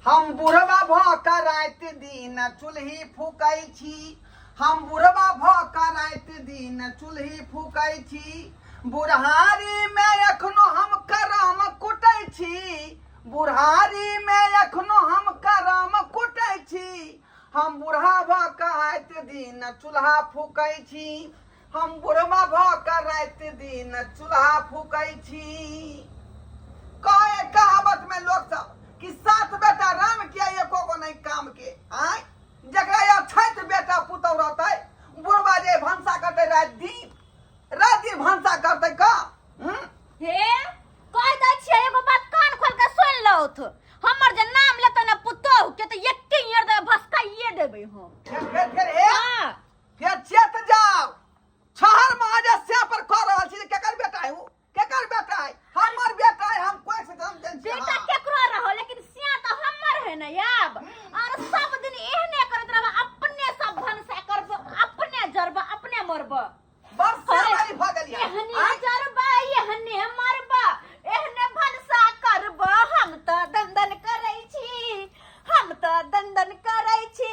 हम बुढ़वा भ क रात दिन चूल्ही फूकै छी हम बुढ़वा भ क रात दिन चूल्ही फूकै छी बुढ़ारी मे एखनो हम करम कुटै छी बुढ़ारी मे एखनो हम करम कुटै छी हम बुढ़ा भ क रात दिन चूल्हा फूकै छी हम बुढ़वा भ के राति दिन चूल्हा फूकै छी कहे कहावत में लोग सब कि सात बेटा राम के एको गो नहीं काम के आय जकरा या छैत बेटा पुतौ रहतै बुढ़वा जे भंसा करतै राति दिन राति दिन भंसा करतै का हम्म? हे कह दै छियै एगो बात कान खोल के सुन लौथ हमर जे नाम लेतै ना पुतोहु के तऽ एके ईयर दे भसकाइए देबै हम फेर फेर ए हाँ के चेत जाओ छहर महाजस्या पर कह रहल छी जे केकर बेटा है ओ केकर बेटा है हमर बेटा है हम कोई से जन्म देन छी बेटा केकरो रहो लेकिन सिया तो हमर है ना याब और सब दिन एहने करत रहबा अपने सब भनसा करब अपने जरब अपने मरब बरसा अरे, वाली भ गेली एहने आय, जरब एहने मरब एहने भनसा करब हम तो दंदन करै छी हम तो दंदन करै छी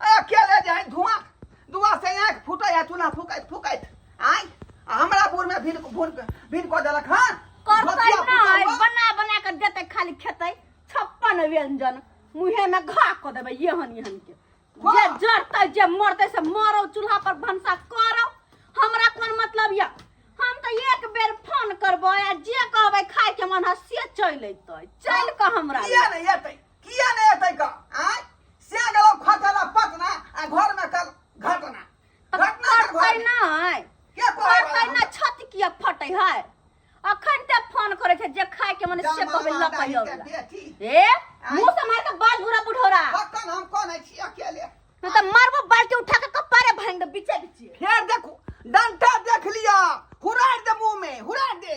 अकेले जे है धुआं धुआं से आँख फूटे है चूल्हा फूकैत फूकैत आय आ हमरा बुढ़ में भिन भून भिन कऽ देलक हन करतै धोतिया ना फूटल बा। बना बना के देतै खाली खेतै छप्पन व्यंजन मुहे में घा क देबै एहन एहन के वाह। जे जरतै जे मरतै से मरौ चूल्हा पर भनसा करौ हमरा कोन मतलब या हम तऽ एक बेर फोन करबै आ जे कहबै खाय के मन है से चलि अयतै चलि कऽ हमरा किया लग। नहीं एतै किया नहि एतै का आय से गेलौ खटला पटना आ घर में कल घटना घटना के घर करतै में। नहि के कहै करतै वाला नहि छत किया फटै है अखन ते फोन करै छै जे खाय के मन से कहबै लऽ कहि हमरा? अबला बेटी ए मुंह से मार के बाल घुरा बुढ़ौरा अखन हम कोन है छी अकेले मैं तो मारबो बाल्टी उठा के कपारे भांग दे बीचे बीचे फेर देखू डंटा देख लिया हुरार दे मुंह में हुरार दे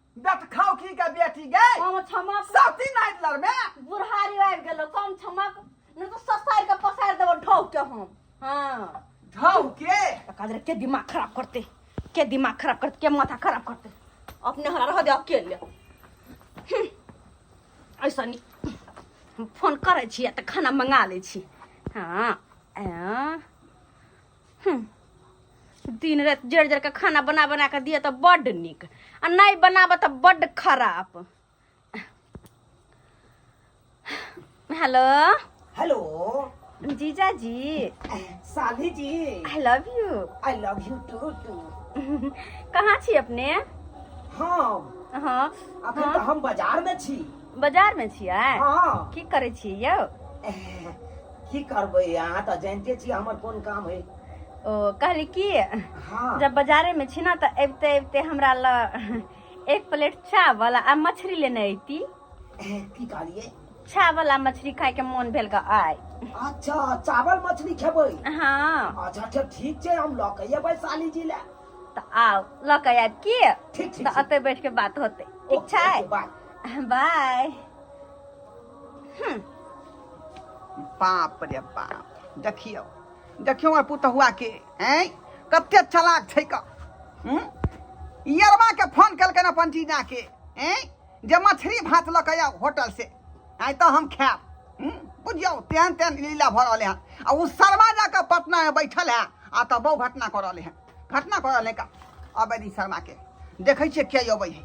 दत खाओ की का बेटी गई हम छमक सती नाइट लर में बुढ़ारी आबि गेलो कम छमक न तो ससार के पसार देबो ढौक के हम हां ढौक के काजर के दिमाग खराब करते के दिमाग खराब करते के माथा खराब करते अपने हरा रह दे अकेले हम्म। ऐसा नहीं हम फोन करे छी आ त खाना मंगा ले छी हां आ हम्म, दिन रात जड़ जड़ के खाना बना बना के दिए तो बड निक आ नहीं बनाब तो बड खराब हेलो हेलो जीजा जी साली जी I love you I love you too too कहाँ छी अपने हम हाँ अखन हाँ। तो हम बाजार में छी बाजार में छियै हाँ की करे छियै यौ एह, की करबै अहाँ तऽ जानिते छी हमर कोन काम है ओ कहली की हाँ जब बाजारे में छी ना तो अबते अबते हमरा ल एक प्लेट चावल आ मछली लेने अयती की कहलिए चावल आ मछली खाए के मोन भेल ग आय अच्छा चावल मछली खेबै हाँ अच्छा अच्छा ठीक छै हम लऽ के एबै साली जी ले तो आओ ल के आयब की ठीक ठीक तो अते बैठ के बात होते ठीक छै बाय बाय हम्म। बाप रे बाप देखियौ देखियौ हमर पुतहुआ के हैं कते चलाक छै क हम्म? यरबा के फोन केलकन अपन जीजा के हैं जे मछली भात लऽ के आउ होटल से आइ तऽ हम खायब हम्म? बुझियौ तेहन तेहन लीला भऽ रहलै हन आ ओ शर्मा जाकऽ पटना मे बैठल है आ तऽ बहु घटना कऽ रहलै हन घटना पड़ल है का अबे दी शर्मा के देखै छियै के अबै है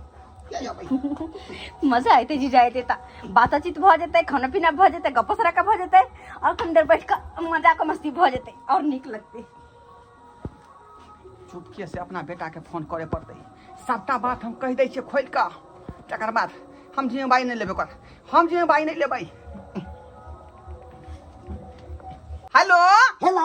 के अबै है मजा आयते जी जायते ता बातचीत भ जेते खाना पीना भ जेते गप्पो सराका भ जेते और कम देर बैठ के मजा के मस्ती भ जेते और निक लगते चुपके से अपना बेटा के फोन करे पड़ते सबटा बात हम कह दै छियै खोल कऽ तकर बाद हम जिम्मेवारी नहि लेबै ओकर हम जिम्मेवारी नहि लेबै हेलो हेलो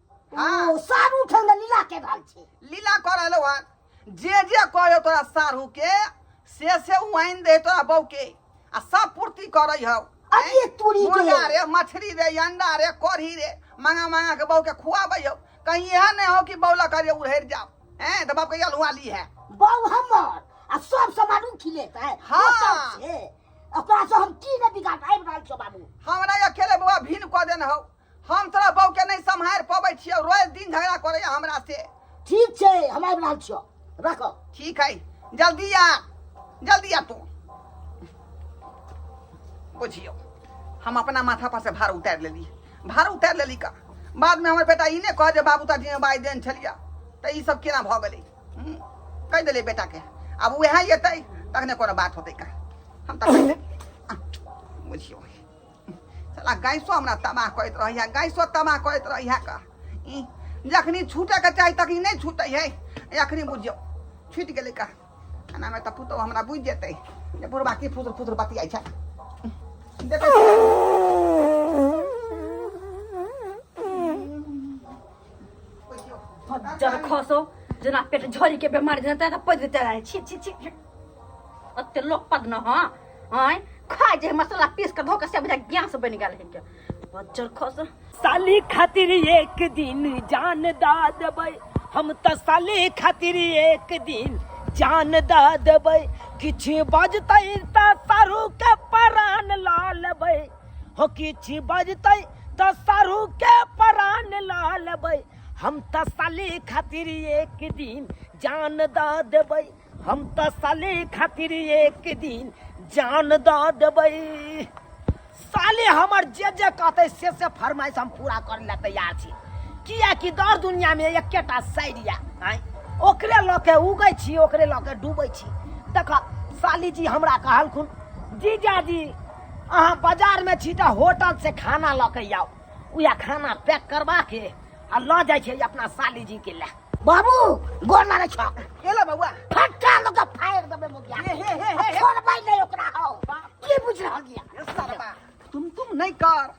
हाँ। ओ सारू उठल ने लीला के रहल छी लीला कर रहलो हन जे जे कहे तोरा सारू के से से वाइन दे तोरा बहू के आ सब पूर्ति करे हौ अरे तूरी के। मुर्गा रे मछली रे अंडा रे कढ़ी रे मांगा मांगा के बहू के खुआबै हौ कहीं यह नहीं हो कि बौला करे उड़ेर जाओ हैं तो बाप के अलुआ ली है बहू हमर आ सब सामान उठी लेत है हाँ। ओतऽ से। ओकरा से हम की ने बिगाड़ आबि रहल छौ बाबू हमरा अकेले बौआ भीन कऽ देने हौ हम तोरा बहू के नहीं सम्हार पबै छियो रोज दिन झगड़ा करे हमरा से ठीक छै हम आबि रहल छियो रखो ठीक है जल्दी आ जल्दी आ तू बुझियो हम अपना माथा पर से भार उतार लेली भार उतार लेली का बाद में हमर बेटा ई ने कह जे बाबू ता दिन बाई देन छलिया त ई सब केना भ गेलै हम्म, कह देले बेटा के अब वएह एतै तखने कोनो बात होतै का हम तखने बुझियो साला गैसो हमरा तबाह करैत रहैए गैसो तबाह करैत रहैए कऽ ई जखनी छूटैके चाही तखनी नहि छूटै है एखनी बुझियौ छूटि गेलै कऽ एनामे तऽ पुतहु हमरा बुझि जेतै जे बुढ़बा की फुसुर फुसुर बतियाइ छै देखै छियै जब खसो जेना पेट झोरी के बीमारी जेना तेना पद देते रहे छी छी छी अते लोक पद न हां आय खा जे मसाला पीस के धो के सब ज्ञान से बन गेल हिनके बच्चर खस साली खातिर एक दिन जान दा देबै हम त साली खातिर एक दिन जान दा देबै किछु बाजतै त सारू के परान ला लेबै हो किछि बजतै त सारू के प्राण ल लेबै हम त साली खातिर एक दिन जान द देबै हम त साली खातिर एक दिन जान द देबै साले हमर जे जे कहतै से से फरमाइश हम पूरा करे ला तैयार छी कियाकि दर दुनिया में एकेटा साइड या आँय ओकरे लऽ के उगै छी ओकरे लऽ के डूबै छी देख साली जी हमरा कहलखुन जीजाजी अहाँ बाजारमे छी तऽ होटलसँ खाना लऽ कऽ आउ उएह खाना पैक करबा के आ लऽ जाइ छै अपना सालीजीके लए बाबू गोर लागै छौ एला बौआ फटका लऽ कऽ फाड़ि देबै मुखिया हे, हे, हे, हे, हे। छोड़बै नहि ओकरा हौ की बुझि रहल यऽ तुम तुम नहीं कर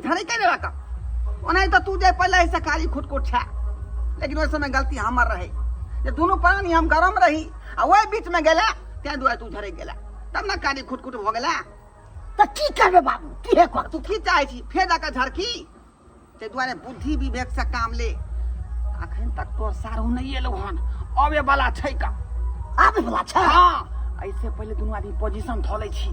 झड़ै के रहत ओना तऽ तू जे पहिले से कारी खुटकुट छै लेकिन ओहि समय गलती हमर रहै जे दुनू प्राणी हम गरम रही आ ओहि बीच में गेला तै दुआरे तू झड़ै गेला तब ने कारी खुटकुट भऽ गेला तऽ की करबे बाबू की हे कर तू की चाहै छी फेर जाकऽ झड़की ताहि दुआरे बुद्धि विवेक से काम ले अखन तक तोर सारू नहि एलौ हन अबे वाला छै का आबे वाला छै हाँ ऐसे पहले दोनों आदमी पोजीशन धो ले छी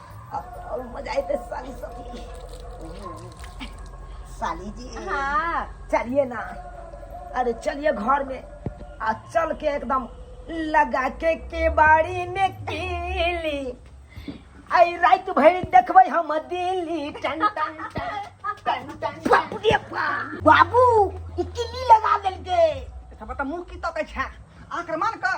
मजा आते साली साली साली जी हाँ चलिए ना अरे चलिए घर में आ चल के एकदम लगा के केबाड़ी में कीली आई रात भर देखबै हम दिल्ली टन टन टन टन टन बाबू रे बा बाबू ई किल्ली लगा देलके तब त मुंह की तकै छै आक्रमण कर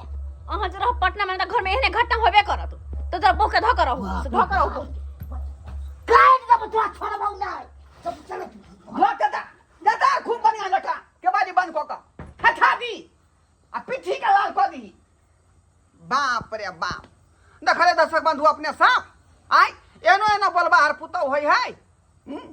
अहाँ जे रहब पटना में घर में एहने घटना होबे करत तो जब बहु के धो कर रहू से धो कर रहू काट दब तोरा छोड़ बहु ना सब चल घर के दा दादा खूब बढ़िया लटा के बारी बंद कऽ कऽ हटा दी आ पीठी के लाल कऽ दी बाप रे बाप देखले दर्शक बंधु अपने साफ आय एनो एनो बोलबा हर पुतौ होय है हम्म?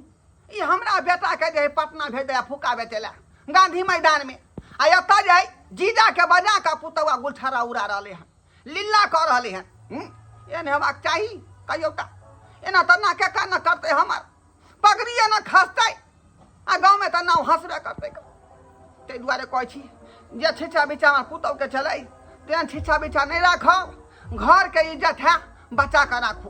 ई हमरा बेटाके जे है पटना भेज दे फुका बेचे ला गांधी मैदान में आ एतऽ जे है जीजा के बजा के पुतौआ गुलछरा उड़ा रहले हन लीला कऽ रहले हन हम्म? एहन हेबाक चाही कहियो टा एना तऽ ना के कान करते हमर पगड़िए ना खसतै आ गाँवमे तऽ नाव हँसबे करतै ताहि दुआरे कहै छी जे छिछा बिछा हमर पुतौहके छलै तेहन छिछा बिछा नहि राखब घरके इज्जत है बचा कऽ राखू